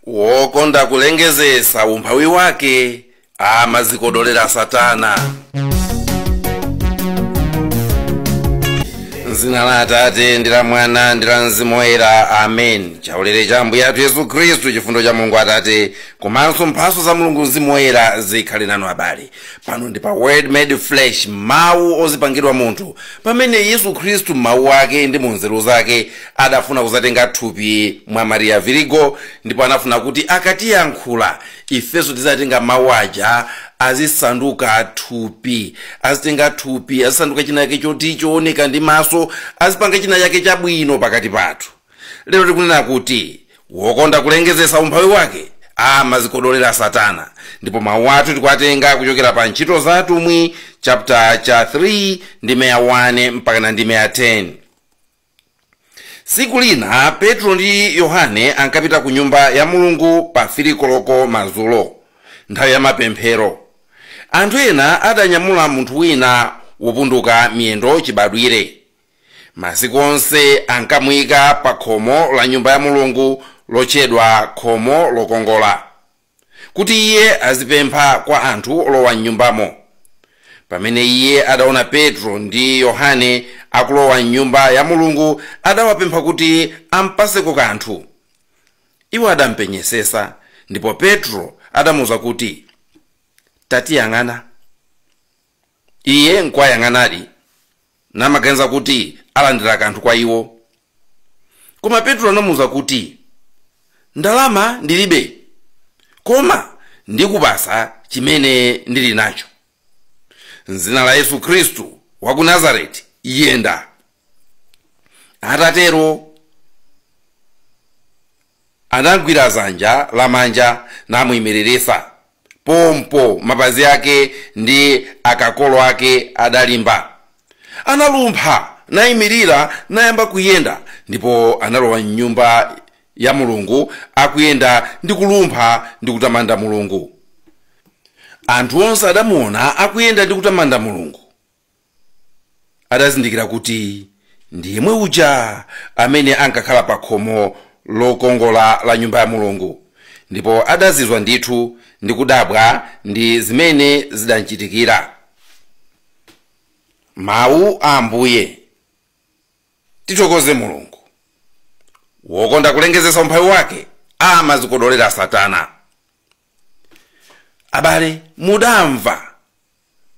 wokonda kulengezesa umphawi wake amadzikodolera satana mdzina la atate ndi la mwana ndi la mzimu woyera amen chaulere cha ambuye athu yesu khristu chifundo cha mulungu atate komanso mphaso za mulungu mzimu woyera zikhale nanu abale pano ndi pa word made flesh mawu ozipangidwa munthu pamene yesu khristu mmawu ake ndi mu nzeru zake adafuna kuzatenga thupi mwa mariya virigo ndipo anafuna kuti akatiyankhula ifenso tizitenga mawu aja azisanduka thupi azitenga thupi azisanduka china chake choti chooneka ndi maso azipanga china chake chabwino pakati pathu lero tikunena kuti wokonda kulengezetsa umphawi wake amadzikodolera satana ndipo mawu athu tikuwatenga kuchokera pa ntchito za atumwi chapter cha 3 ndime ya 1 mpakana ndime ya 10 tsiku lina petro ndi yohane ankapita ku nyumba ya mulungu pa 3 koloko madzulo nthawi ya mapemphero anthu ena adanyamula munthu wina wopunduka miyendo chibadwire masiku onse ankamuyika pa khomo la nyumba ya mulungu lotchedwa khomo lokongola kuti iye azipempha kwa anthu olowa mnyumbamo pamene iye adaona petro ndi yohane akulowa mnyumba ya mulungu adawapempha kuti ampaseko kanthu iwo adampenyesesa ndipo petro adamuwuza kuti tatiyang'ana Iye nkuwayang'anadi, namaganiza kuti alandira kanthu kwa iwo. Koma Petro anamuuza kuti, Ndalama ndilibe, koma ndikupasa chimene ndili nacho. M'dzina la Yesu Khristu wa ku Nazareti, yenda! Atatero Anamgwira dzanja lamanja namuimiririsa, pompo mapazi ake ndi akakolo ake adalimba. Analumpha naimirira nayamba kuyenda, ndipo analowa m'Nyumba ya Mulungu akuyenda ndi kulumpha ndi kutamanda Mulungu. Anthu onse adamuwona akuyenda ndi kutamanda Mulungu. adazindikira kuti ndi yemwe uja amene ankakhala pa khomo lokongola la nyumba ya mulungu ndipo adazizwa ndithu ndi kudabwa ndi zimene zidamchitikira mawu a ambuye tithokoze mulungu wokonda kulengezesa umphawi wake amadzikodolera satana abale mudamva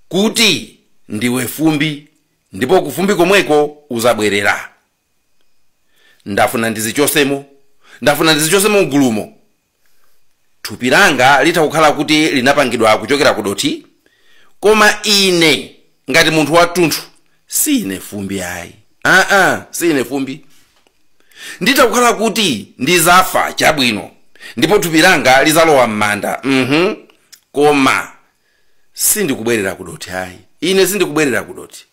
kuti ndiwe fumbi ndipo kufumbi komweko uzabwerera ndafuna ndizichosemo ndafuna ndizichosemo mgulumo thupi langa litha kukhala kuti linapangidwa kuchokera ku dothi koma ine ngati munthu wathunthu si ine fumbi ayi aa si ine fumbi nditha kukhala kuti ndizafa chabwino ndipo thupi langa lizalowa m'manda mhm koma sindikubwerera kudothi ayi ine sindikubwerera kudothi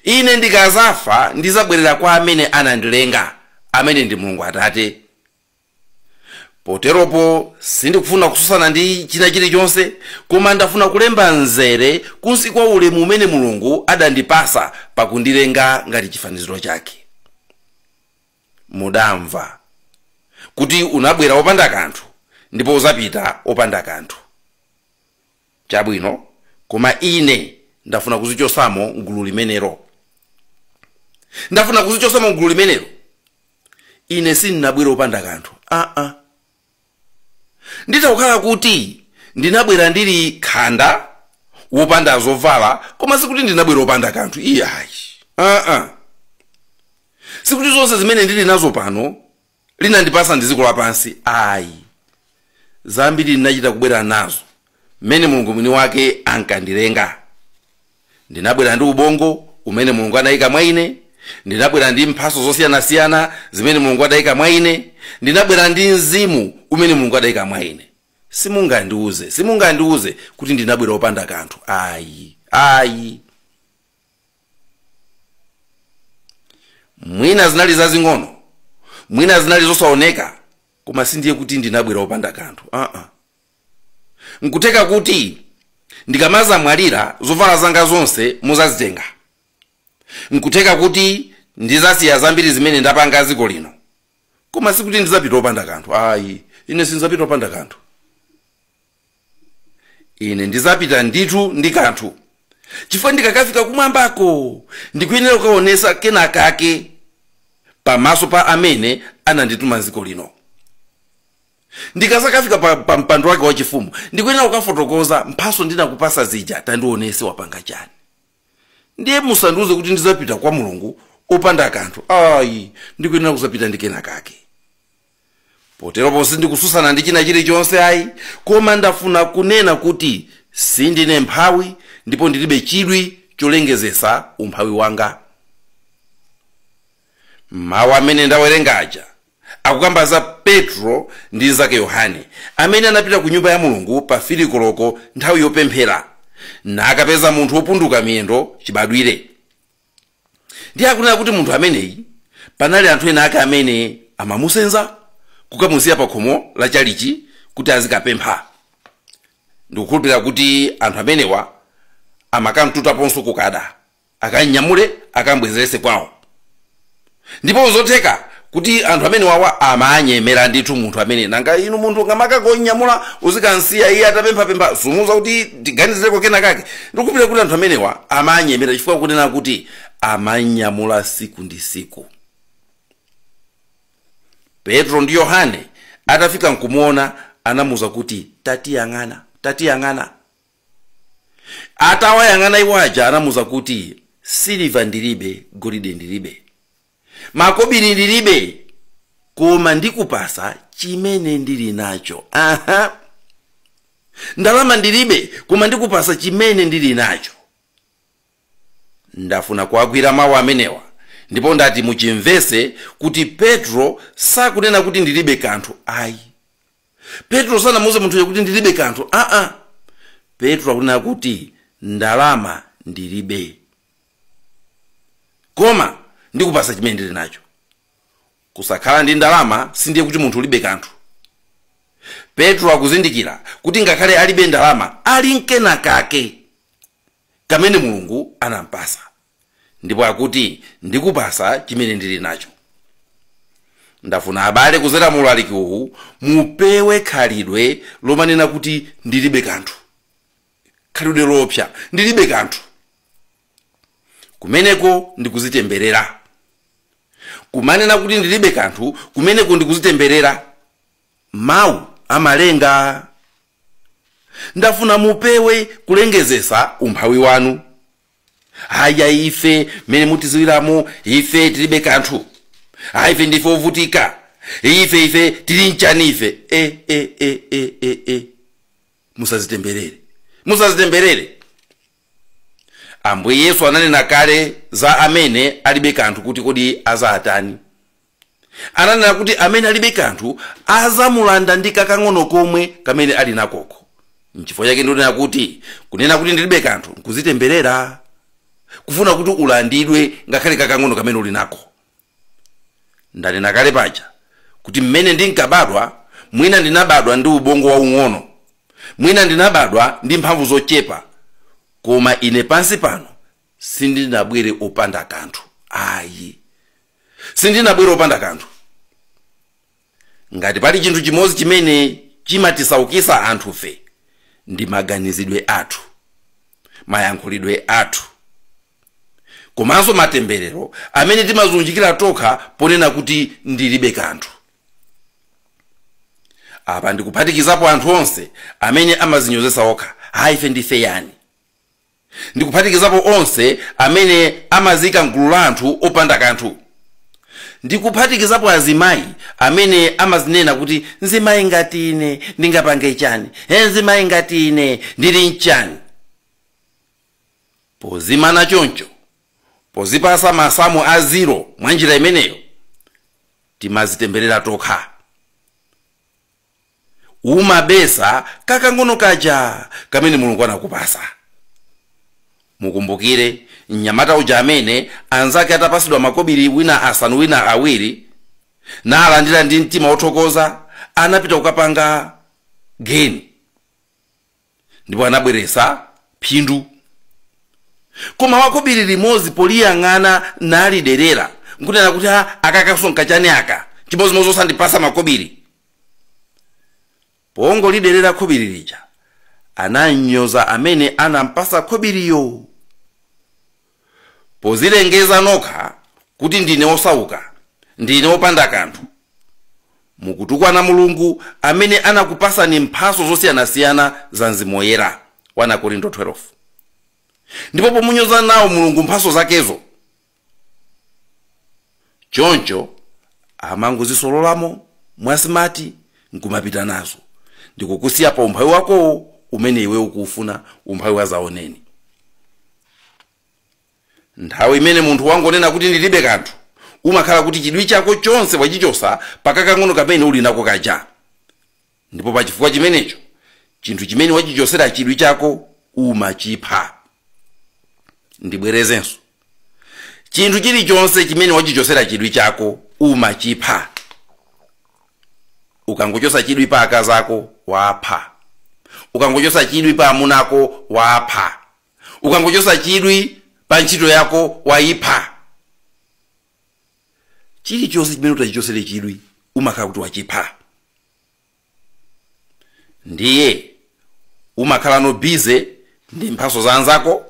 ine ndikazafa ndizabwerera kwa amene anandilenga amene ndi mulungu atate poteropo sindikufuna kususana ndi china chilichonse koma ndafuna kulemba mzere kunsi kwa ulemu umene mulungu adandipasa pakundilenga ngati chifaniziro chake mudamva kuti unabwera wopanda kanthu ndipo uzapita wopanda kanthu chabwino koma ine ndafuna kuzichosamo mgulu limenelo ndafuna kuzichosamo mgulu limenelo ine sindinabwere wopanda kanthu aa Nditha kukhala kuti ndinabwera ndili khanda, wopanda zovala, koma sikuti ndinabwera opanda kanthu iyayi. Aa! Sikuti zonse zimene ndili nazo pano linandipasa ndi dziko lapansi ayi. Zambiri ndinachita kubwera nazo mmene Mulungu mwini wake ankandilenga. Ndinabwera ndi ubongo umene Mulungu adaika mwa ine. Ndinabwera ndi mphaso zosiyanasiyana zimene Mulungu adaika mwa ine. Ndinabwera ndi mzimu umene Mulungu adaika mwa ine. Simungandiuze, simungandiuze kuti ndinabwera opanda kanthu. Ayi, ayi. Mwina zinali zazing'ono, mwina zinali zosaoneka, koma sindiye kuti ndinabwera opanda kanthu. Aa. N'kutheka kuti ndikamazamwalira, zovala zanga zonse muzazitenga. N'kutheka kuti ndizasiya zambiri zimene ndapanga dziko lino. Koma sikuti ndidzapita opanda kanthu ayi. Ine sindizapita opanda kanthu. Ine ndizapita ndithu ndi kanthu, chifukwa ndikakafika kumwambako ndikuyenera kukaonesa kenakake pamaso pa amene anandituma m'dziko lino. ndikazakafika pa, pa mpando wake wachifumu ndikuyenera kukafotokoza mphaso ndinakupasa zija tandionese wapanga chani ndiye musandiuze kuti ndizapita kwa mulungu opanda kanthu ayi ndikuyenera kuzapita ndi kena kake poteropo sindikususana ndi china chilichonse ayi koma ndafuna kunena kuti sindine mphawi ndipo ndilibe chidwi cholengezesa umphawi wanga mawu amene ndawerenga aja Akukamba za Petro ndi mnzake Yohane, amene anapita ku Nyumba ya Mulungu pa fili koloko nthawi yopemphela, nakapeza munthu wopunduka miyendo cibadwile. Ndiye akunena kuti munthu ameneyi, panali anthu ena ake amene amamusenza kukamusiya pa khomo la chalichi kuti azikapempha. Ndikukhulupilila kuti anthu amenewa amakam'tutaponso kukada. akamnyamule akambwezerese kwawo ndipo nzotheka kuti anthu amenewawa amanyemera ndithu munthu ameneyu nanga inu munthu ungamakangonyamula uzikansiya iye atapemphapempha sumuuza kuti tiganizireko kena kake ndikukhulupirira kuti anthu amenewa amanyemera chifukwa akunena kuti amanyamula siku ndi siku petro ndi yohane atafika nkumuona anamuuza kuti tatiyang'ana Atawayang'ana iwo aja anamuuza kuti, Siliva ndilibe, golide ndilibe, makobili ndilibe, koma ndikupasa chimene ndili nacho. Aha, ndalama ndilibe, koma ndikupasa chimene ndili nacho. Ndafuna kuwagwira mau amenewa ndipo ndati muchimvetse kuti Petro sakunena kuti ndilibe kanthu ayi. Petro sanamuuze munthuyo kuti ndilibe kanthu aa. Petro akunena kuti ndalama ndilibe. Koma ndikupatsa chimene ndili nacho. Kusakhala ndi ndalama sindiye kuti munthu ulibe kanthu. Petro akuzindikira kuti ngakhale alibe ndalama ali nkena kake. kamene Mulungu anampasa ndipo akuti ndikupasa chimene ndili nacho. Ndafuna abale kuzera mu ulaliki uwu mupewe khalidwe lomanena kuti ndilibe kanthu. Khalidwe loopsa ndilibe kanthu. Kumeneko ndikuzitemberera. Kumanena kuti ndilibe kanthu kumeneko ndikuzitemberera. Mawu amalenga. Ndafuna mupewe kulengezesa umphawi wanu. Haya ife mmene mutiziwiramo ife tilibe kanthu. Hayi ife ndife ovutika. Ife ife tili nchani ife. E e e e e e. Musazitemberere. Musazitemberere. Ambuye Yesu ananena kale za amene alibe kanthu kuti kodi azatani. ananena kuti amene alibe kanthu azamulanda ndi kakang'ono komwe kamene ali nakoko nchifukwa chake ndikunena kuti kunena kuti ndilibe kanthu nkuzitemberera kufuna kuti ulandidwe ngakhale kakang'ono kamene uli nako ndanena kale paja kuti mmene ndinkabadwa mwina ndinabadwa ndi ubongo waung'ono mwina ndinabadwa ndi mphamvu zochepa koma ine pansi pano sindinabwere opanda kanthu ayi sindinabwere opanda kanthu ngati pali chinthu chimodzi chimene chimatisaukisa anthufe ndi maganizidwe athu mayankhulidwe athu komanso matemberero amene timazunjikira tokha ponena kuti ndilibe kanthu apa ndikuphatikizapo anthu onse amene amazinyozesa okha ayi ife ndife yani ndi kuphatikizapo onse amene amazika mgulu la anthu opanda kanthu ndi kuphatikizapo azimayi amene amazinena kuti nzimayi ngati ine ndingapange chani e nzimayi ngati ine ndili mchani pozimana choncho pozipasa masamu a ziro mwa njira imeneyo timazitemberera tokha umabisa kakang'ono kaja kamene mulungu anakupasa mukumbukire mnyamata uja amene anzake atapasidwa makobiri wina asanu wina awiri nalandira ndi mtima wothokoza anapita kukapanga geni ndipo anabweretsa phindu koma wakobiri limodzi poliyang'ana naliderera nkunena kuti a aka kasonkha chani aka chimodzimodzi osandipasa makobiri pongoliderera khobiri lija anamnyoza amene anampasa khobiriyo Pozilengeza nokha kuti ndine wosauka, ndine wopanda kanthu. Mukutukwana Mulungu amene anakupasani mphaso zosiyanasiyana za Mzimu Woyera, 1 Akorinto 12. Ndipo pomunyoza nawo Mulungu mphaso zakezo, choncho amangozisololamo mwasimati nkumapita nazo ndikukusiya pa umphawi wakowo umene iwe ukuufuna umphawi wa zaoneni nthawi imene munthu wangonena kuti ndilibe kanthu umakhala kuti chidwi chako chonse wachichosa pakakang'ono kamene uli nako kaja ndipo pa chifukwa chimenecho chinthu chimene wachichosera chidwi chako umachipha ndibwerezenso chinthu chilichonse chimene wachichosera chidwi chako umachipha ukangochosa chidwi pa akazi ako wapha ukangochosa chidwi pa amuna ako wapha ukangochosa chidwi pa ntchito yako wayipha chilichonse chimene utachichosere chidwi umakhala kuti wachipha ndiye umakhala uno bize ndi mphaso za anzako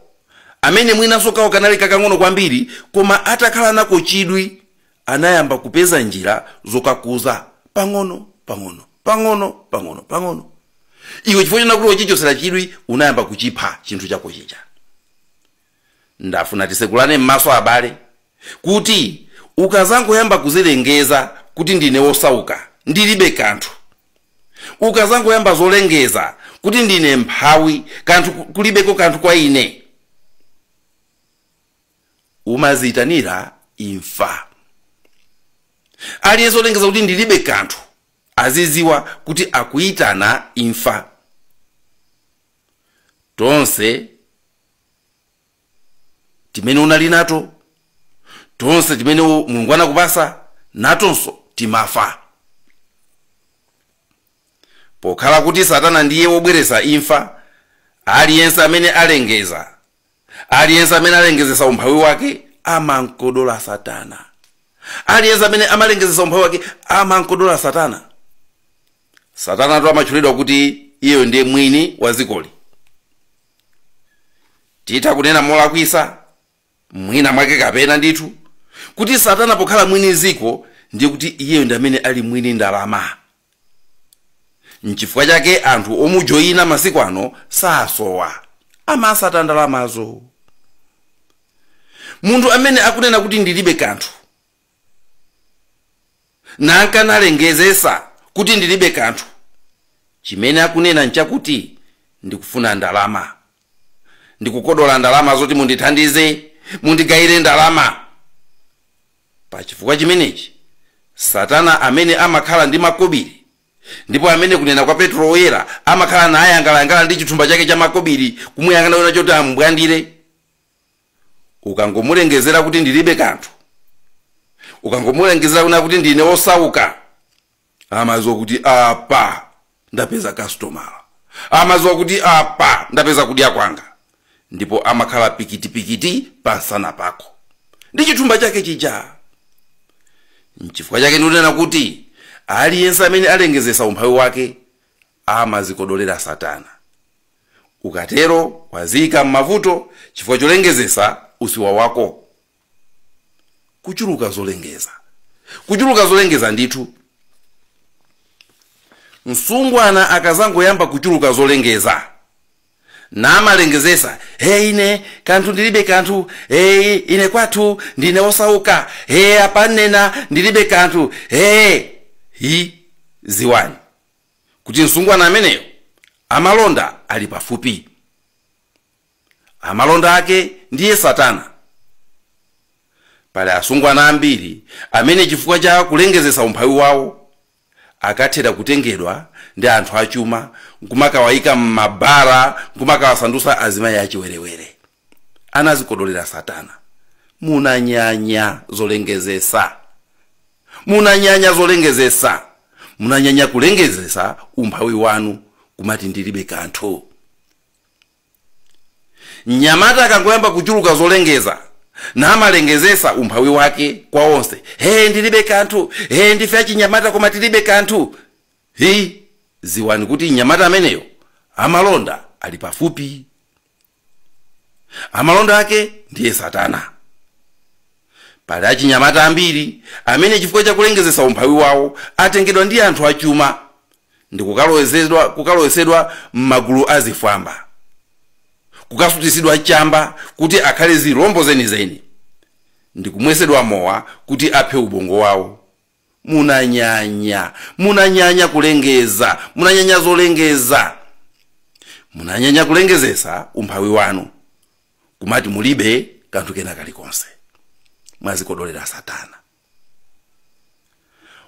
amene mwinanso kawo kanali kakang'ono kwambiri koma atakhala nako chidwi anayamba kupeza njira zokakuza pang'ono pang'ono pang'ono pang'ono pang'ono iwe chifukwa chonena kuti wachichosera chidwi unayamba kuchipha chinthu chako chija ndafuna tisekulane m'maso abale kuti ukazangoyamba kuzilengeza kuti ndine wosauka ndilibe kanthu ukazangoyamba zolengeza kuti ndine mphawi kanthu kulibeko kanthu kwa ine umaziyitanira imfa aliyense olengeza kuti ndilibe kanthu aziziwa kuti akuyitana imfa tonse timene unali nato tonse timene u- mulungu anakupasa natonso timafa pokhala kuti satana ndiye wobweretsa imfa aliyense amene alengeza aliyense amene alengezesa umphawi wake amankodola satana aliyense amene amalengezesa umphawi wake amankodola satana satanatu amatchulidwa kuti iyeyo ndiye mwini wa zikoli titha kunena molakwisa mwina mwake kapena ndithu kuti satana pokhala mwini ziko ndiye kuti iyeyo ndi amene ali mwini ndalama nchifukwa chake anthu omujoyina masiku ano sasowa amasata ndalamazo munthu amene akunena kuti ndilibe kanthu nankanalengezesa kuti ndilibe kanthu chimene akunena nchakuti ndikufuna ndalama ndikukodola ndalama zoti mundithandize mundigayire ndalama pa chifukwa chimenechi satana amene amakhala ndi makobiri ndipo amene kunena kwa petro woyera amakhala nayangalayangala ndi chithumba chake cha makobiri kumuyang'ana wina choti amubwandire ukangomulengezera kuti ndilibe kanthu ukangomulengezera kuna kuti ndine osauka amaziwa kuti apa ndapeza kastomala amaziwa kuti apa ndapeza kudya kwanga ndipo amakhala pikitipikiti pamsana pako ndi chithumba chake chija nchifukwa chake ndikunena kuti aliyense amene alengezesa umphawi wake amazikodolera satana ukatero waziyika m'mavuto chifukwa cholengezesa usiwa wako kuchuluka zolengeza kuchuluka zolengeza ndithu msungwana akazangoyamba kuchuluka zolengeza namalengezesa he ine kanthu ndilibe kanthu he ine kwathu ndine osauka he apa nnena ndilibe kanthu he hi ziwani kuti msungwana ameneyo amalonda ali pafupi amalonda ake ndiye satana pali asungwana ambiri amene chifukwa cha kulengezesa umphawi wawo akathera kutengedwa ndi anthu achuma nkumakawayika m'mabara nkumakawasandusa azimayi achiwerewere anazikodolera satana munanyanya zolengezesa munanyanya zolengezesa munanyanya kulengezesa umphawi wanu kumati ndilibe kanthu mnyamata akangoyamba kuchuluka zolengeza namalengezesa umphawi wake kwa onse he ndilibe kanthu he ndife achinyamata koma tilibe kanthu hi dziwani kuti mnyamata ameneyo amalonda ali pafupi amalonda ake ndiye satana pali achinyamata ambiri amene chifukwa cha kulengezesa umphawi wawo atengedwa ndi anthu achuma ndi kukalowezedwa kukalowetsedwa m'magulu a zifwamba kukasutitsidwa chamba kuti akhale zilombo zenizeni ndi kumwesedwa mowa kuti aphe ubongo wawo Munanyanya, munanyanya kulengeza, munanyanya zolengeza, munanyanya kulengezesa umphawi wanu, kumati mulibe kanthu kena kalikonse. Mwadzikodolera Satana.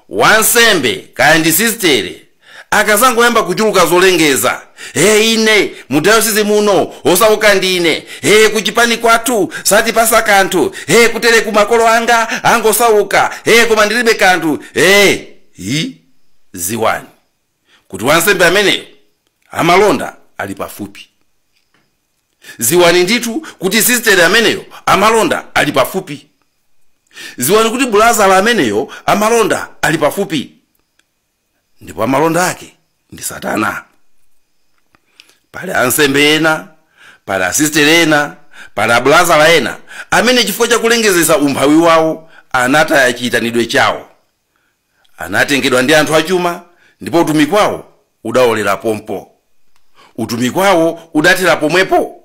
Wansembe kaya ndi sistere akadzangoyamba kuchuluka zolengeza hey ine mu dayosisi muno osauka ndine hey kuchipani kwathu satipasa kanthu hey kutere ku makolo anga angosauka hey koma ndilibe kanthu hey hi dziwani kuti wansembe ameneyo amalonda ali pafupi dziwani ndithu kuti sisteri ameneyo amalonda ali pafupi dziwani kuti bulazala ameneyo amalonda ali pafupi ndipo amalonda ake ndi satana pali ansembe ena pali asistere ena pali abulazala ena amene chifukwa cha kulengezesa umphawi wawo anataya chiyitanidwe chawo anatengedwa ndi anthu achuma ndipo utumiki wawo udaolera pompo utumiki wawo udathera pomwepo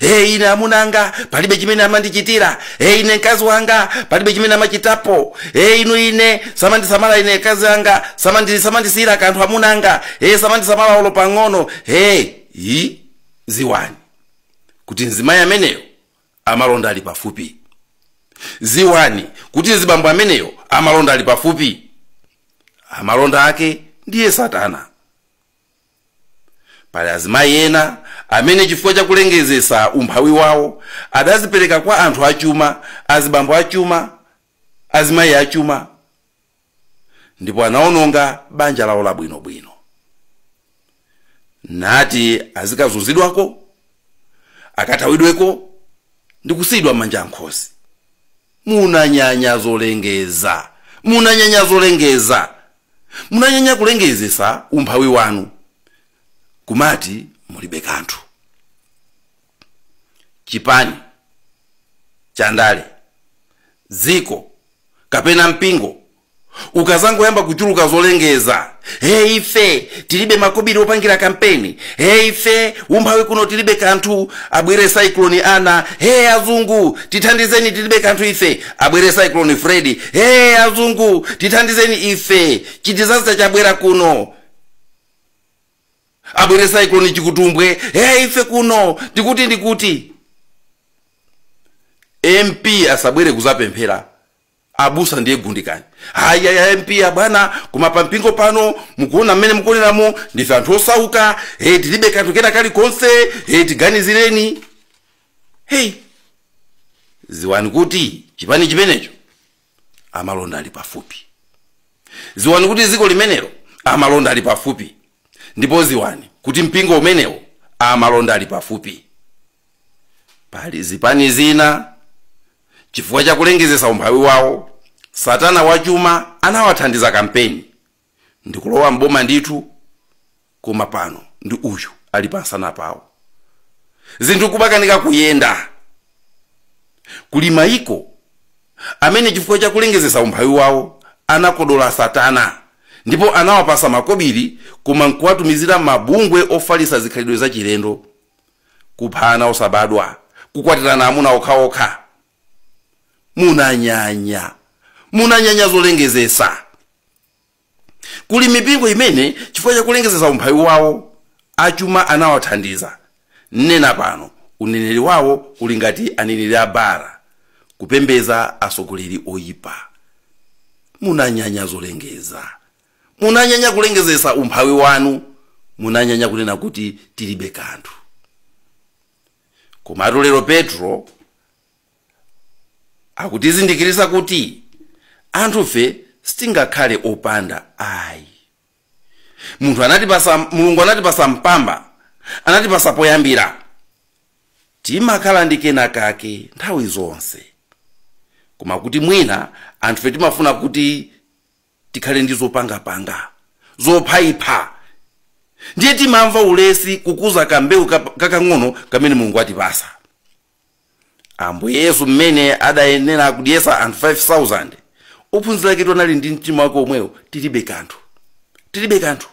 e ine amunanga palibe chimene amandichitira e ine mkazi wanga palibe chimene amachitapo e inu ine samandisamala ine mkazi wanga samandi- samandisiyira kanthu amunanga e samandisamala olo pang'ono e i dziwani kuti mzimayi ameneyo amalonda ali pafupi dziwani kuti mzibambo ameneyo amalonda ali pafupi amalonda ake ndiye satana Pali azimayi ena amene chifukwa cha kulengezesa umphawi wawo adadzipereka kwa anthu achuma, azibambo achuma, azimayi achuma ndipo anaononga banja lawo labwinobwino. Nati azikazunzidwako, akathawidweko ndikusiyidwa manja nkhosi. Munanyanya zolengeza! Munanyanya zolengeza! Munanyanya kulengezesa umphawi wanu kumati mulibe kanthu. Chipani chandale, dziko kapena mpingo ukazangoyamba kuchuluka zolengeza hey ife tilibe makobiri opangira kampeni hey ife umphawi kuno tilibe kanthu abwere cyclone ana hey azungu tithandizeni tilibe kanthu ife abwere cyclone freddy hey azungu tithandizeni ife chidisaster chabwera kuno abwere cyclone chikutumbwe hey ife kuno ndikuti ndikuti mp asabwere kuzapemphera abusa ndiye gundikani ayi ayi a mp abwana koma pampingo pano mukuona mmene mukuoneramo ndife anthu osauka hey tilibe kanthu kena kalikonse hey tiganizireni heyi ziwani kuti chipani chimenecho amalonda ali pafupi ziwani kuti dziko limenelo amalonda ali pafupi ndipo ziwani kuti mpingo umenewo amalonda ali pafupi pali zipani zina chifukwa cha kulengezesa umphawi wawo satana wachuma anawathandiza kampeni ndikulowa m'boma ndithu koma pano ndi uyu ali pansana pawo zinthu kumakanika kuyenda kuli maiko amene chifukwa cha kulengezesa umphawi wawo anakodola satana ndipo anawapasa makobiri koma nkuwatumizira mabungwe ofalisa zikhalidwe zachilendo kupha ana osabadwa kukwatirana amuna okhaokha munanyanya munanyanya zolengezesa kuli mipingo imene chifukwa chakulengezesa umphawi wawo achuma anawathandiza nnena pano uneneri wawo uli ngati aneneri a Baala kupembeza atsogoleri oyipa munanyanya zolengeza munanyanya kulengezesa umphawi wanu munanyanya kunena kuti tilibe kanthu komatu lero petro akutizindikiritsa kuti anthufe sitingakhale opanda ayi munthu anatipasa mulungu anatipasa mpamba anatipasa poyambira timakhala ndi kena kake nthawi zonse koma kuti mwina anthufe timafuna kuti tikhale ndi zopangapanga zophaipha ndiye timamva ulesi kukuza kambewu kap- kakang'ono kamene mulungu atipasa ambuye yesu mmene adayenera kudyesa anthu 5000 ophunzira ake anali ndi mtima wake omwewo tilibe kanthu tilibe kanthu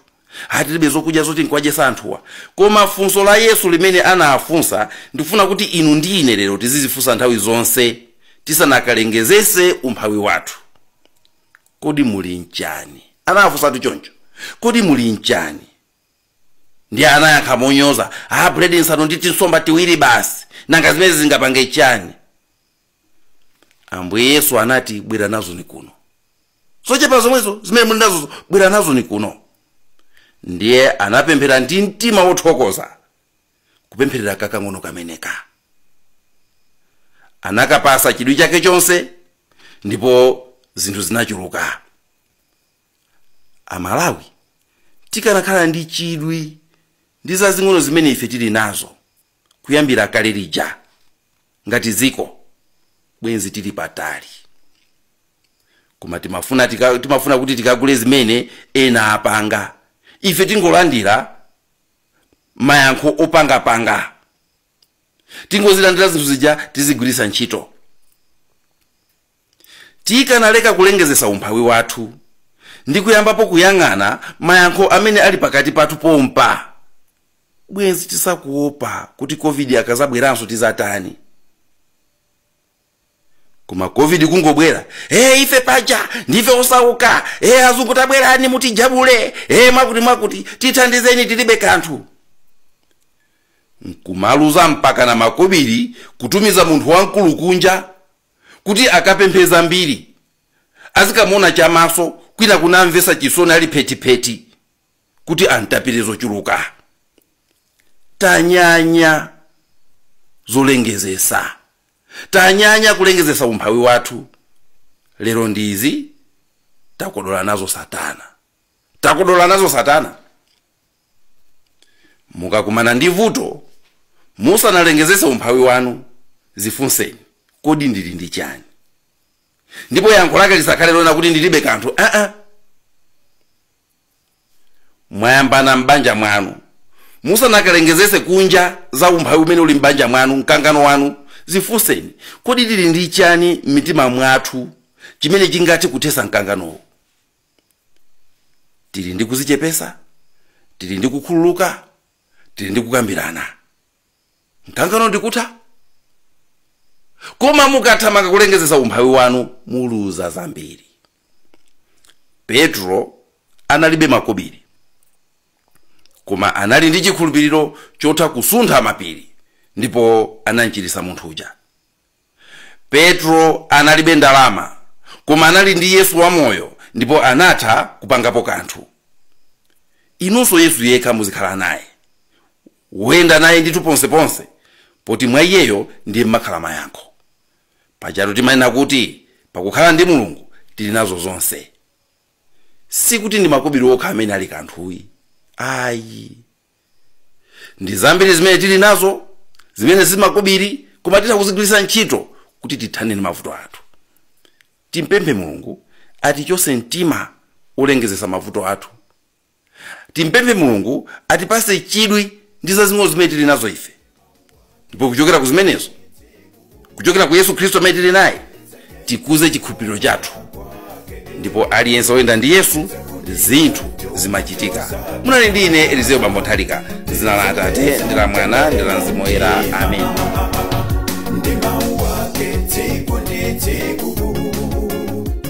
tilibe zokudya zoti nkuwadyesa anthuwa koma funso la yesu limene anafunsa ndifuna kuti inu ndi ine lero tizizifunsa nthawi zonse tisanakalengezese umphawi wathu kodi muli nchani anawafunsatu choncho kodi muli nchani ndiye anayankha monyoza aa buledi nsanu ndi tinsomba tiwiri basi nanga zimenezi zingapange chani ambuye yesu anati bwera nazoni kuno zochepa zomwezo zimene muli nazozo bwera nazoni kuno ndiye anapemphera ndi mtima wothokoza kupempherera kakang'ono kameneka anakapasa chidwi chake chonse ndipo zinthu zinachuluka amalawi tikanakhala ndi chidwi ndi zazing'ono zimene ife tili nazo kuyambira kale lija ngati dziko bwenzi tili patali koma timafuna kuti tikagule zimene ena apanga ife tingolandira mayankho opangapanga tingozilandira zinthu zija tizigwiritsa ntchito tikanaleka kulengezesa umphawi wathu ndi kuyambapo kuyang'ana mayankho amene ali pakati pathu pompa bwenzi tisakuopa kuti covid akazabweranso tizatani koma covid kungobwera e ife paja ndife osauka e azungu tabwerani mutijabule e mwakuti mwakuti tithandizeni tilibe kanthu nkumaluza mpaka na makobiri kutumiza munthu wamkulu kunja kuti akapemphe zambiri azikamona chamaso kwina kunamvesa chisoni ali phetipheti kuti amtapire zochuluka tanyanya zolengezesa tanyanya kulengezesa umphawi wathu lero ndizi takodola nazo satana takodola nazo satana mukakumana ndi vuto musanalengezese umphawi wanu zifunseni kodi ndili ndi chani ndipo yankho lake lisakhale lonena kuti ndilibe kanthu aa mwayambana m'banja mwanu musanakalengezese kunja za umphawi umene uli m'banja mwanu mkangano wanu zifunseni kodi tili ndi chani m'mitima mwathu chimene chingathe kuthesa mkanganowo tili ndi kuzichepesa tili ndi kukhululuka tili ndi kukambirana mkangano ndikutha koma mukathamanga kulengezesa umphawi wanu muluza zambiri petulo analibe makobiri koma anali ndi chikhulupiriro chotha kusuntha mapiri ndipo anamchiritsa munthu uja petulo analibe ndalama koma anali ndi yesu wamoyo ndipo anatha kupangapo kanthu inunso yesu yekha muzikhala naye woyenda naye ndithu ponseponse poti mwa iyeyo ndiye mmakhala mayankho pajatu timanena kuti pakukhala ndi mulungu tili nazo zonse sikuti ndi makobiri okha amene ali kanthuyi ayi ndi zambiri zimene tili nazo zimene si makobiri koma titha kuzigwiritsa ntchito kuti tithane ndi mavuto athu timpemphe mulungu atichose mtima olengezesa mavuto athu timpemphe mulungu atipase chidwi ndi zazing'ono zimene tili nazo ife ndipo kuchokera ku zimenezo kuchokera ku yesu khristu amene tili naye tikuze chikhulupiriro chathu ndipo aliyense woyenda ndi yesu zinthu zimachitika munali ndi ine elizeo bambo nthalika dzina la atate ndi la mwana ndi la mzimu woyera amen ndi mau ake tsiku ndi tsiku